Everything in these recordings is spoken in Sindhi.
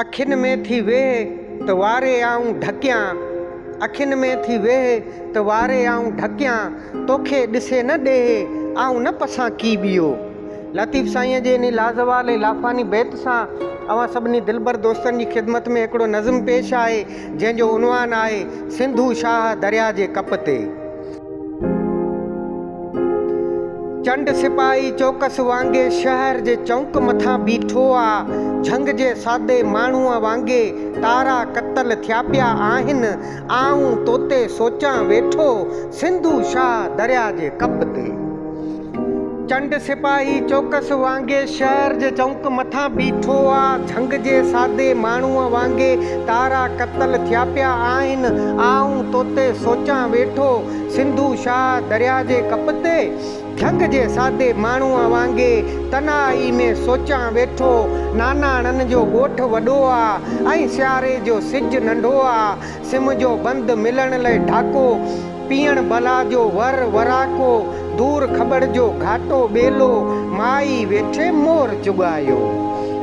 اکين ۾ ٿي ويهه ته واري آئون ڍڪيان اکين ۾ ٿي ويهه ته واري آئون ڍڪيان توکي ڏسي نه ڏيهه آئون نه پسان ڪي ٻيو. لطيف سائينء جي انهي لازوال ۽ لافاني بيت سان اوهان سڀني دلبر دوستن جي خدمت ۾ هڪڙو نظم پيش آهي، جنهن جو عنوان آهي، سنڌو شاهه درياء جي ڪپ تي. چنڊ سپاهي چوڪس وانگي شهر جي چؤنڪ مٿان بيٺو آ. جهنگ جي سادي ماڻهوء وانگي تارا ڪتل ٿيا پيا آهن. آئون توتي سوچان ويٺو سنڌو شاهه درياء جي ڪپ تي. چنڊ سپاهي چوڪس وانگي شهر جي چؤنڪ مٿان بيٺو آ. جهنگ جي سادي ماڻهوء وانگي تارا قتل ٿيا پيا آهن. آئون توتي سوچان ويٺو. سنڌو شاهه درياء جي ڪپ تي جهنگ جي سادي ماڻهوء وانگي تنهائي ۾ سوچان ويٺو. ناناڻن جو ڳوٺ وڏو آ ۽ سياري جو سج ننڍو آ. سم جو بند ملڻ لئه ڍاڪو، پيئڻ بلا جو ور وراڪو، دور کٻڙ جو گهاٽو ٻيلو، مائي ويٺي مور چڳايو.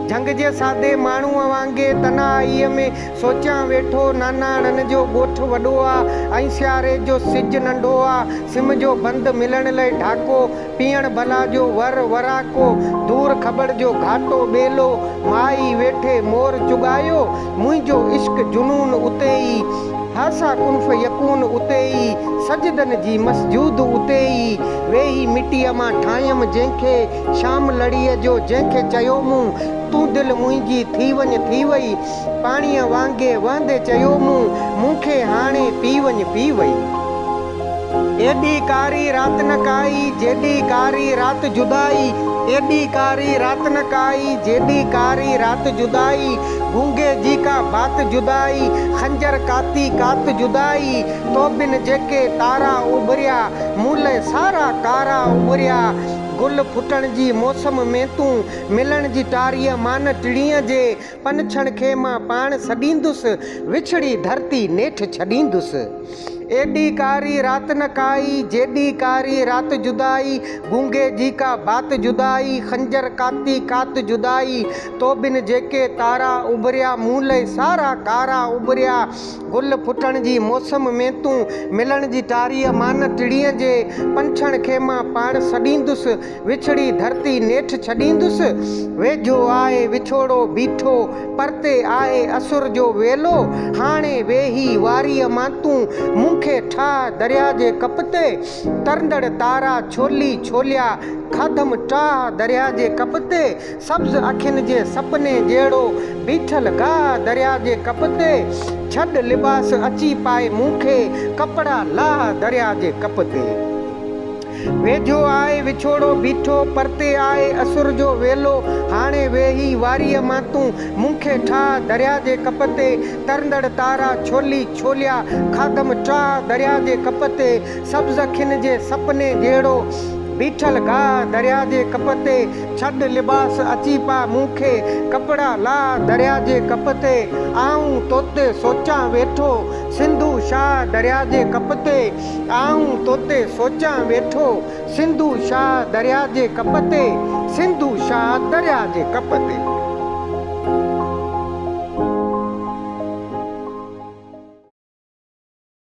جهنگ جي سادي ماڻهوء وانگي تنهائيء ۾ سوچيان ويٺو، ناناڻن جو ڳوٺ وڏو آ ۽ سياري جو سج ننڍو آ، سم جو بند ملڻ لئه ڍاڪو، پيئڻ بلا جو ور وراڪو، دور کٻڙ جو گهاٽو ٻيلو، مائي ويٺي مور چڳايو، منهنجو عشق جنون اتي ئي، هاسا ڪن فيڪون اتي ئي، سجدن جي مسجود اتي ئي، ويهي مٽيء مان ٺاهيم جنهن کي، شام لڙيء جو جنهن کي چيو مون، تون دل منهنجي ٿي وڃ ٿي وئي، پاڻيء وانگي وهندي چيو مون، مون کي هاڻي پي وڃ پي وئي. ايڏي ڪاري رات نه ڪائي، جيڏي ڪاري رات جدائي، ايڏي ڪاري رات نه ڪائي، جيڏي ڪاري رات جدائي، گونگي جي ڪا بات جدائي، خنجر ڪاتي ڪات جدائي، تو بن جيڪي تارا اڀريا، مون لئه سارا ڪارا اڀريا، گل ڦٽڻ جي موسم ۾ تون، ملڻ جي ٽاريء مان نه ٽڙينء جي، پنڇڻ کي مان پاڻ سڏيندس، وڇڙي ڌرتي نيٺ ڇڏيندس. ايڏي ڪاري رات نه ڪائي، جيڏي ڪاري رات جدائي، گونگي جي ڪا بات جدائي، خنجر ڪاتي ڪات جدائي، توبن جيڪي تارا اڀريا، مون لئه سارا ڪارا اڀريا، گل ڦٽڻ جي موسم ۾ تون، ملڻ جي ٽاريء مان نه ٽڙينجي، پنڇڻ کي مان پاڻ سڏيندس، وڇڙي ڌرتي نيٺ ڇڏيندس. ويجهو آهي وڇوڙو بيٺو، پرتي آهي اسر جو ويلو. هاڻي ويهي واريء مان تون، مون کي ٺاهه درياء جي ڪپ تي. ترندڙ تارا ڇولي ڇوليا، کاڌم ٽاهه درياء جي ڪپ تي. سبز اکين جي سپني جهڙو، بيٺل گاهه درياء جي ڪپ تي. ڇڏ لباس اچي پائي مون کي، ڪپڙا لاهه درياء جي ڪپ تي. ويجهو آء وڇوڙو بيٺو، پرتي آء اسر جو ويلو، هاڻي ويهي واريء مان تون، مون کي ٺاهه درياهه جي ڪپ تي، ترندڙ تارا ڇولي ڇوليا، کاڌم ٽاهه درياهه جي ڪپ تي، سبز کن جي سپني جهڙو، بيٺل گاهه درياهه جي ڪپ تي، ڇڏ لباس اچي پاء مون کي، ڪپڙا لاهه درياهه جي ڪپ تي، آئون توتي سوچان ويٺو، سنڌو شاهه درياهه جي ڪپ تي. آئون توتي سوچان ويٺو سنڌو شاهه درياء جي ڪپ تي سنڌو شاهه درياء جي ڪپ تي.